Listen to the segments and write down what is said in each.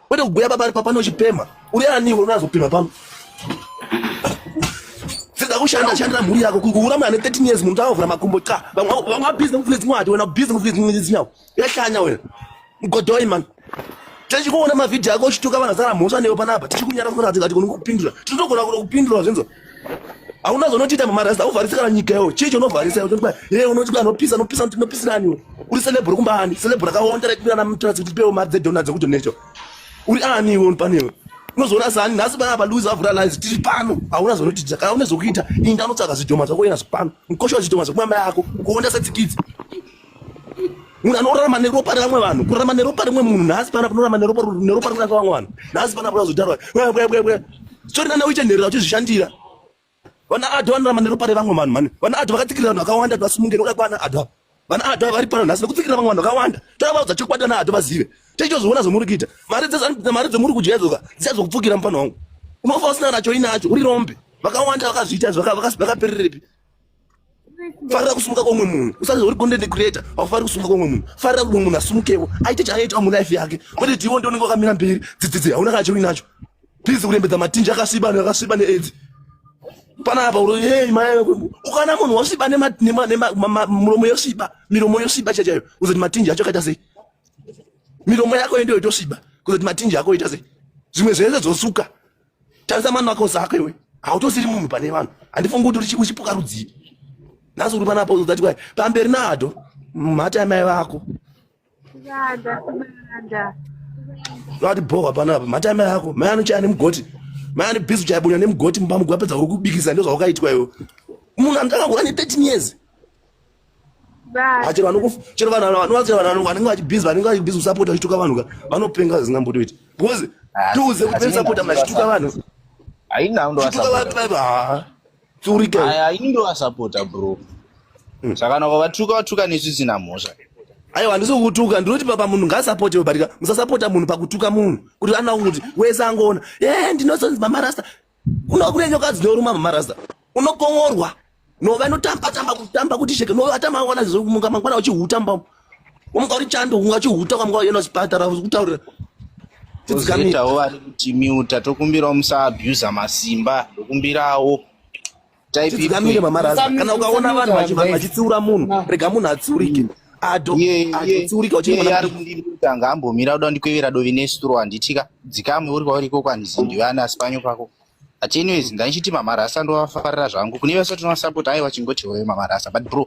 Kwete kuguya pabari papane uchipema. Uri ani iwe unazopema pano? Sida kushanda shandira mhuri yako kunguura mwana 13 years munhu tavavhura makumbo cha. Vamwe vamwe busy ngofuna dzimwe hati wena busy ngofuna dzimwe dzinyawo. Yahlanya wena. Mgodoi man. Tichikuona mavideo yako uchituka vanhu zara mhosva newe panapa. Tichikunyara kuti ati kuti kunokupindura. Tinotogona kuti kupindura zvinzo. hauna zvonotiita mamarasta auvharisi kana nyika yo chii chonovharisa e unoti anopisa anopisa kuti unopisiraniwo uri celebro kumba ani celebro akaonda raipirana mutrasi kuti tipewo mari dzedona dzekuti necho uri ani iwe panewe unozoona sani nhasi bana apa louis avura lies tiri pano hauna zvonotiita kana une zvokuita inda anotsvaga zvidhoma zvako ina zvipano mukosha wezvidhoma zvekumama yako kuonda setsikidzi munhu anorarama neropa revamwe vanhu kurarama neropa rimwe munhu nhasi pana kunorarama neropa neropa rimwe rakavamwe vanhu nhasi pana kuda kuzotarwa bwa bwa bwa bwa sori nana uite nherera uchizvishandira vana adha vanorarama neropa revamwe vanhu mani vana adha vakatsikirira vanhu vakawanda vasimungeni uda kwana adha vana adha vari pano nhasi nekutsikirira vamwe vanhu vakawanda toda vaudza chokwadi vana adha vazive techizoona zvomuri kuita mari dzese mari dzomuri kudya dzoka dzichazokupfukira mupano wangu unofa usina nacho inacho uri rombe vakawanda vakazviita zvakapererepi farira kusumuka kwomwe munhu usati uri content creator haufariri kusumuka kwomwe munhu farira kuti mumwe munhu asumukewo aite chaaita mulife yake kwete tiwo ndi unenge wakamira mberi dzidzidzi hauna kana chiri nacho please kurembedza matinji akasviba anhu akasviba needzi panapa uro hey mai ukana munhu wasviba muromo yosviba miromo yosviba chaiyo chaiyo kuzoti matinji acho akaita sei miromo yako yendiyo itosviba kuzoti matinji ako ita sei zvimwe zvese dzosuka tarisa mani wako zako iwe hautosiri munhu pane vanhu handifungi kuti uchipuka rudzii nhasi uri panapo uzati kwai pamberi nado mhata yamai vako vati bhohwa panapa mhata yamai vako mai anochaya nemugoti mai ane bhizi chayabunya nemugoti mumba mugo apedza uri kubikisa ndozvaukaitwa iwe munhu anotanga kuva ne 13 years chero vanhu chero vanhu vanenge vachibhizi vanenge vachibhizi kusapota vachituka vanhu ka vanopenga zvisingambotoiti because ah, tiuze kuti vemusapota mna chituka vanhu haina ndochituka vanhu vaiva haa tsurika haini ndovasapota bro hmm. saka nako vatuka vatuka nesvisina mhosva aiwa handisi kukutuka ndinoti papa munhu ngaasapote barika musasapota munhu pakutuka munhu kuti anoa kuti wese angoona e ndinozonzi mamarasta Kuno kune nyoka dzinoruma mamarasta. Unokomorwa. No vanotamba tamba kutamba kuti sheke. No atama wana zvomunga mangwana uchihutamba. Umka uri chando unga uchihuta kwa mngwa yena chipatara kutaurira. Tidzikamitao vari kuti miuta tokumbirawo musa abuser masimba. Tokumbirawo. tidzikamire mamaraza kana ukaona vanhu vachitsiura munhu rega munhu atsiurike adotsiurika uchitanga ambomira uda ndikwevera dovi nesituro handitika dzikamwe uri kwauri ikoko handizindiwe ana asipanyo pako but anyways ndaichiti mamarasa ndovafarira zvangu kune vese tinovasapport aiwa chingoti hoyo mamarasa but bro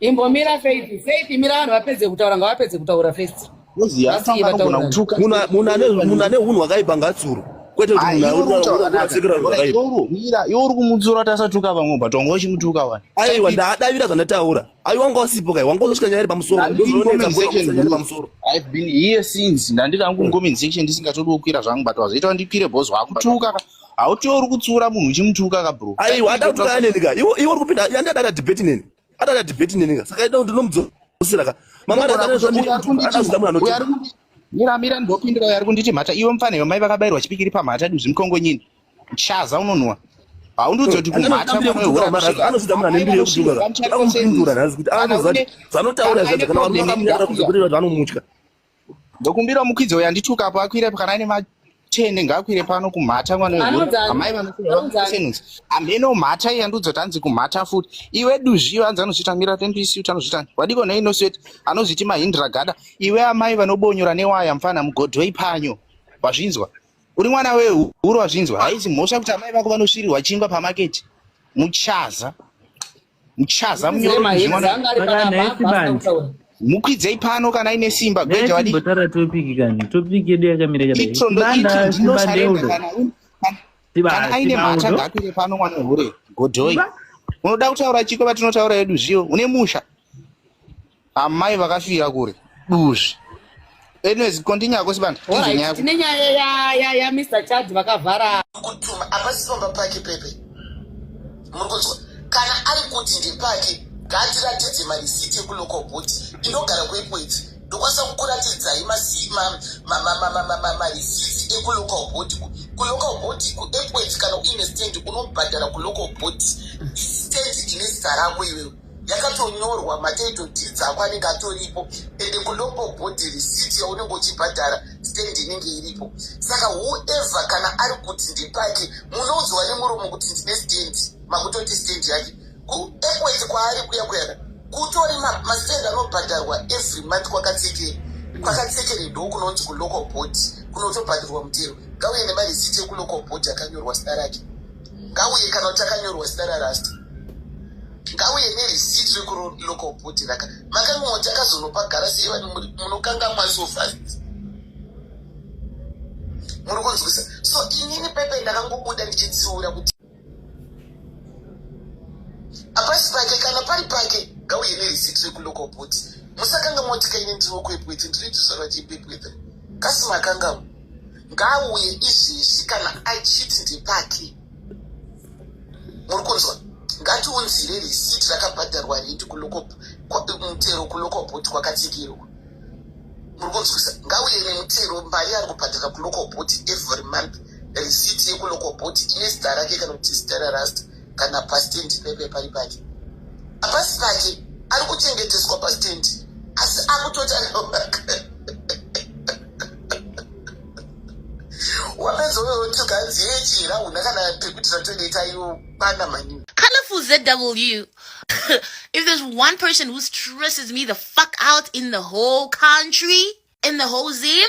Imbomira Faith, Faith mira vanhu vapedze kutaura ngavapedze kutaura first. Munhu ane hunhu hwakaipa ngatsuro. Kwete kuti munhu asekera zvakaipa. Iwe uri kumutsura tasatuka vamwe but wanga uchimutuka wani. Aiwa ndadavira zvandataura. Aiwa wanga usipo kai wanga usvika nyaya pamusoro. Pamusoro. I've been here since ndandiri hangu comment section ndisingatodi kukwira zvangu but wazoita wandikwire boss wako. Tuka hauti uri kutsura munhu uchimutuka ka bro. Aiwa adakutuka neni ka. Iwe uri kupinda yandadada debate neni. Adada debate nini ka. Saka ida kuti ndomudzosera ka. Mama adada anozoda munhu anoti. Mira mira ndopindira uyo ari kunditi mhata iwe mfana iwe mai vakabairwa chipikiri pamhata duzvi mukongo nyini. Chaza unonwa. haundizoti kumhataanozoda munhu anembiri yekutuka akumupindura nhasi kuti anozoda kuti zvanotaura zvacho kana vamunyamira kuti vanomutya Ndokumbira mukwidzi uyo andituka apo akwire kana ane matende ngaakwire pano kumhata mwana weamai vanosenhuzi hameno mhata iya ndozotanzi kumhata futi iwe duzviyo anzi anozvitamira tenduisi uti anozvitani wadiko nei nosweti anozviti mahindra gada iwe amai vanobonyora newaya mfana mugodhoi panyo wazvinzwa uri mwana wehuru wazvinzwa haizi mhosva kuti amai vako vanosvirirwa chingwa pamaketi muchaza muchaza mukwidzei pano kana ine simba gweja wadi tara topic kani topic yedu yakamira kadai itso ndo itso ndino sarenda kana kana aine mhata ngakwire pano mwana hure godhoi unoda kutaura chiko vatinotaura yedu zviyo une musha amai vakafira kure duzvi anyways continue ako sibanda tine nyaya ya ya mr chad vakavhara kutuma hapasi pamba pake pepe muri kunzwa kana ari kuti ndepake ngaatiratidze marisiti ekuloko bhuti inogara kuipo idzi ndokwanisa kukuratidzai marisiti ekulocal bhuti kulocal bhuti kuapo idzi kana uine stendi unobhadhara kulocal bhuti stendi ine zita rako iwewe yakatonyorwa matitle deeds ako anenge atoripo ende kulocal body receipt yaunenge uchibhadhara stand inenge iripo saka whoever kana ari kuti ndipake munoudzwa nemuromo kuti ndine stand makutoti stand yake kuekwet kwaari kuya kuyana kutori mastand anobhadharwa every month kwakatsekere kwakatsekere ndo kunonzi kulocal body kunotobhadharwa mutero ngauye nemareceipt ekulocal body akanyorwa sina rake ngauye kana kuti akanyorwa zita rarasta ngauye nerisiti rekulokobhuti raka makanga moti akazonopa garasi ivani munokangamwa so fast muri kunzwisa so inini pepe ndakangobuda ndichitsiura kuti apasi pake kana pari pake ngauye nerisiti rekulokobhuti musakanga moti kaine ndiri wokuepwete ndiri ndizvarwa chipepwete kasi makangamo ngaauye izvezvi kana achiti ndepake muri kunzwa ngatiunzire risiti rakabhadharwa redi mutero kulokoboti kwakatsikirwa muri kunzwisa ngauye nemutero mari ari kubhadhara kulokoboti every month risiti yekulokoboti ine zita rake kana kuti zita rarasta kana pastendi pepe pari pake apasi pake ari kuchengeteswa pastendi asi akutoti wapedza uyotigadziye chira una kana pekuti ratonoita iwo bana maningi colorful zw if there's one person who stresses me the fuck out in the whole country in the whole zim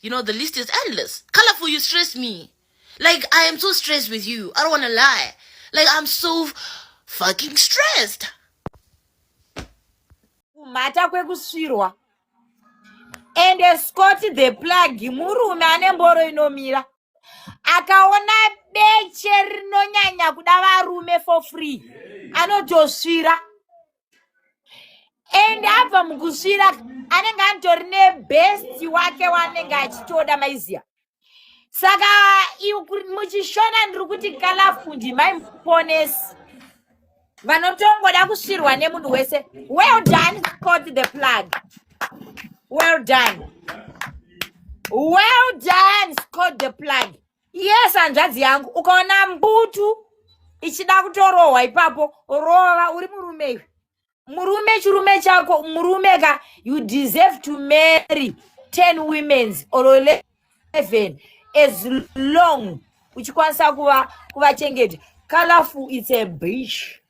You know, the list is endless. Colorful, you stress me. Like, I am so stressed with you. I don't want to lie. Like, I'm so fucking stressed. kumhata kwekusvirwa ende scott the plug murume ane mboro inomira akaona beche rinonyanya kuda varume for free anotosvira and abva mukusvira anenge atori nebest wake waanenge achitoda maiziya saka muchishona ndiri kuti kalafundi maiponesi vanotongoda kusvirwa nemunhu wese well done cot the plug well done well done scot the plug yes hanzvadzi yangu ukaona mbutu ichida kutorohwa ipapo rova uri murume iwe murume chirume chako murume ka you deserve to marry ten womens or eleven as long uchikwanisa kuva kuvachengeta colorful it's a beach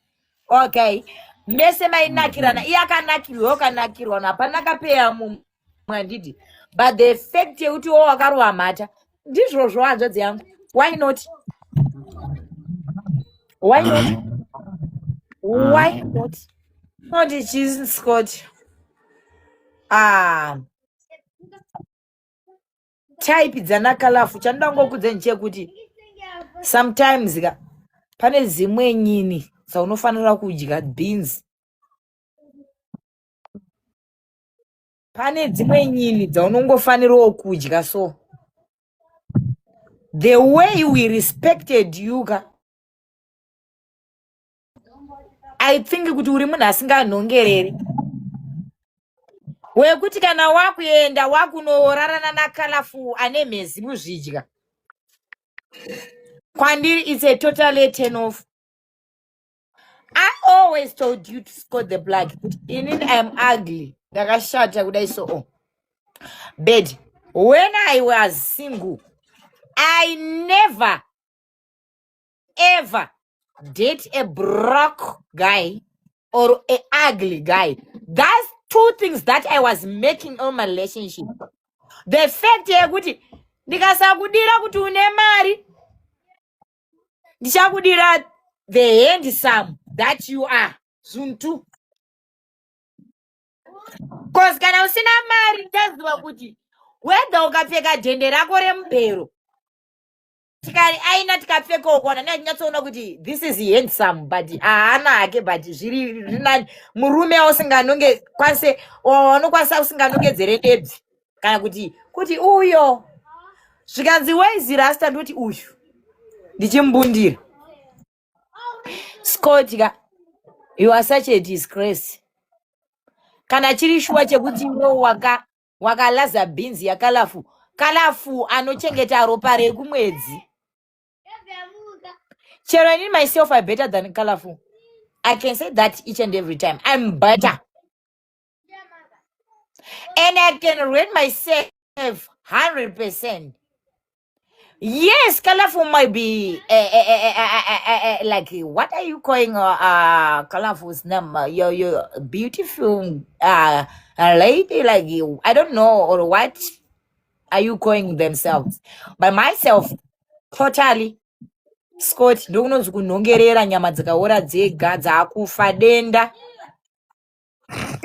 okay mese mainakirana mm-hmm. iye akanakirwa ukanakirwa hapana kapeya mumwe mwandidi but the fact yekuti wo wakarova mhata ndizvozvo hanzvadzi yangu why not why not mm. why not not chisi scott ah type dzana kalafu chandoda ngokudzeni chekuti sometimes ka pane dzimwe nyini dzaunofanira kudya beans pane dzimwe nyini dzaunongofanirawo kudya so the way we respected you ka i think kuti uri munhu asinganhongereri wekuti kana wakuenda wakunorarana nakalafu ane mhezi muzvidya kwandiri its a totally turn off I always told you to score the black kuti inini I am ugly ndakashata kudai so oh. But when I was single I never ever date a broke guy or a ugly guy. That's two things that I was making on my relationship. The fact yekuti ndikasakudira kuti une mari ndichakudira the handsome that you are zunhu two bcause kana usina mari ndichaziva kuti wedha ukapfeka dhende rako remubhero tikari aina tikapfekawo kona natinyatsoona kuti this is handsome but haana hake but zviri rinani murume ausinganonge kwanise wanokwanisa usinganongedzere ndebzi kana kuti kuti uyo zvikanzi waizi rasta ndoti uyu ndichimbundira scott ka you are such a disgrace kana chiri shuwa chekuti iwe waka wakalaza bhinzi yakalafu kalafu anochengeta ropa rekumwedzi chero ini myself i better than kalafu i can say that each and every time i'm better and i can rate myself 100 percent yes colorful might be uh, uh, uh, like what are you calling uh, colorful's name uh, your, your beautiful uh, lady like i don't know or what are you calling themselves by myself totally scott ndokunonzi kunhongerera nyama dzikaora dzega dzakufa denda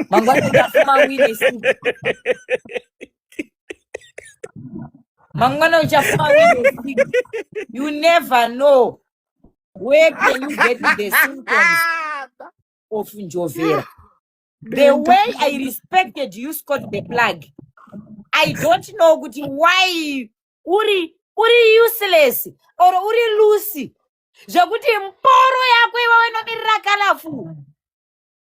mangwana uchafuma wine soup mangwana uchafuma wine soup you never know where can you get the symptoms of njovera the way i respected you scott the plug i don't know kuti why uri uri useless or uri lucy zvekuti mboro yako iwe wenomirira kalafu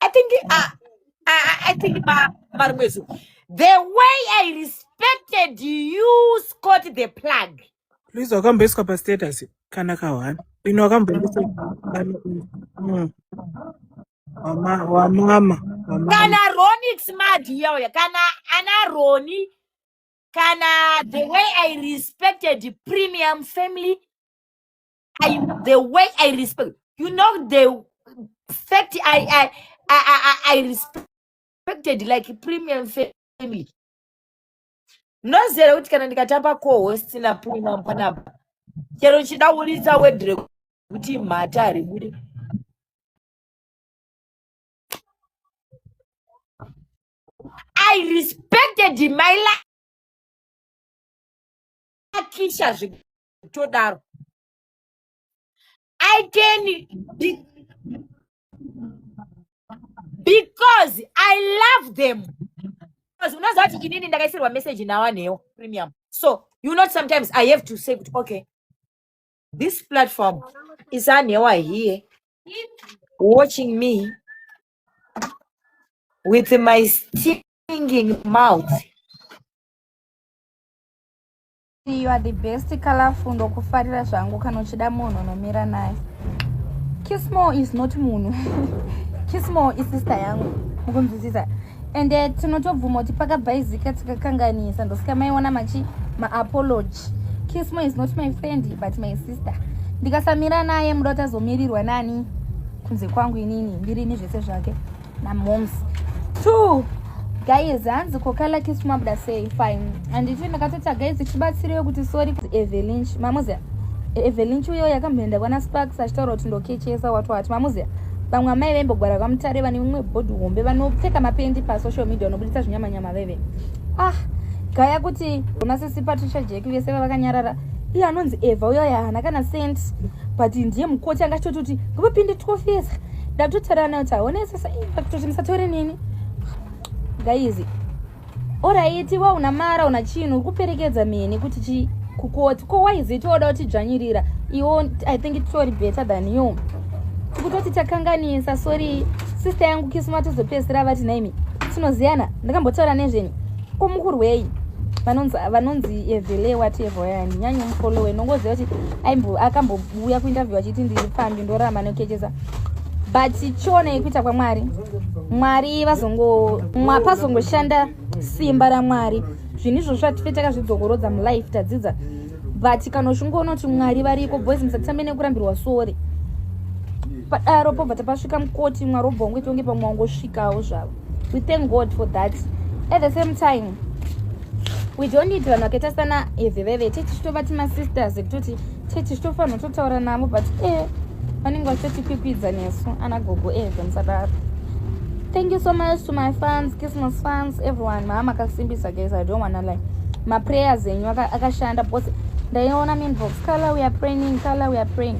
I think uh, I, I think Marumwezu, the way I respected you, Scott the plug. Please, wakamboiswa pa status kana kahwani ino wakamboiswa mm. wamama wamama kana Ronix Madi yauya kana ana Roni kana the way I respected the premium family I, the way I respect, you know, the fact I, I, I, I, I respected like premium family. Mnozere kuti kana ndikatamba co-host na premium panapa, chero chida uridza wedre kuti mhata ari bude. I respected my life. Akisha zvikuru. todaro i can be, because i love them because unoziva kuti inini ndakaisirwa message nawanewo premium so you not sometimes i have to say kuti okay this platform is anewa here watching me with my stinging mouth You are the best colorful ndokufarira zvangu kana uchida munhu unomira naye. Kismo is not munhu. Kismo is sister yangu. Mukunzwisisa. And uh, tinotobvuma kuti pakabhaizika tikakanganisa ndosika maiona machi maapology. Kismo is not my friend but my sister. Ndikasamira naye muda utazomirirwa nani kunze kwangu inini ndirini zvese zvake. namoms two guys hanzi kokala kisu mabuda sei fine anditi ndakatoita guys chibatsireyo kuti sorry evelinch mamuzia evelinch uyo yakamboenda kwana sparks achitaura kuti ndokechesa watu wati mamuzia vamwe amai vaimbogwara kwamutare vane mumwe bhodhi hombe vanopfeka mapendi pasocial media vanobuditsa zvinyamanyama veve ah gaya kuti ona sisi patricia jack vese vavakanyarara iye anonzi eva uyo yaana kana sent but ndiye mukoti angachitoti kuti ngavapinde twofesa ndatotaura nayo kuti haone sasa kuti musatore nini gaizi oraiti wa una mara una chinhu uri kuperekedza mheni kuti chi kukoti ko waizi tooda kutidzvanyirira iwo i think itori better than you tikutoti takanganisa sorry sister yangu kisuma tozopedzisira vati naimi tinoziyana ndakambotaura nezvenyu ko mukurwei vanonzi vanonzi evhelewa tevhoyani nyanyo mufolowe nongoziva kuti akambo kuuya kuinterview achiti ndiri pfambi ndorama nokechesa but chiona ikuita kwamwari mwari vazongo pazongoshanda simba ramwari zvinhu izvozvo zvatife takazvidzokorodza mulife tadzidza but kana uchingoona kuti mwari variko boys musatitambe nekurambirwa sori padaro pobva tapasvika mukoti mwari obva wangoita kunge pamwe wangosvikawo zvavo we thank god for that at the same time we don't need vanhu vakaita sana eveveve tichitova timasisters ekutoti church chitofanirwa totaura navo but e vanenge vachitotipipidza nesu ana gogo eve musadaro thank you so much to my fans christmas fans everyone maa makasimbisa guys i don't wanna like maprayers enyu akashanda because ndaiona minbox color we are praying color we are praying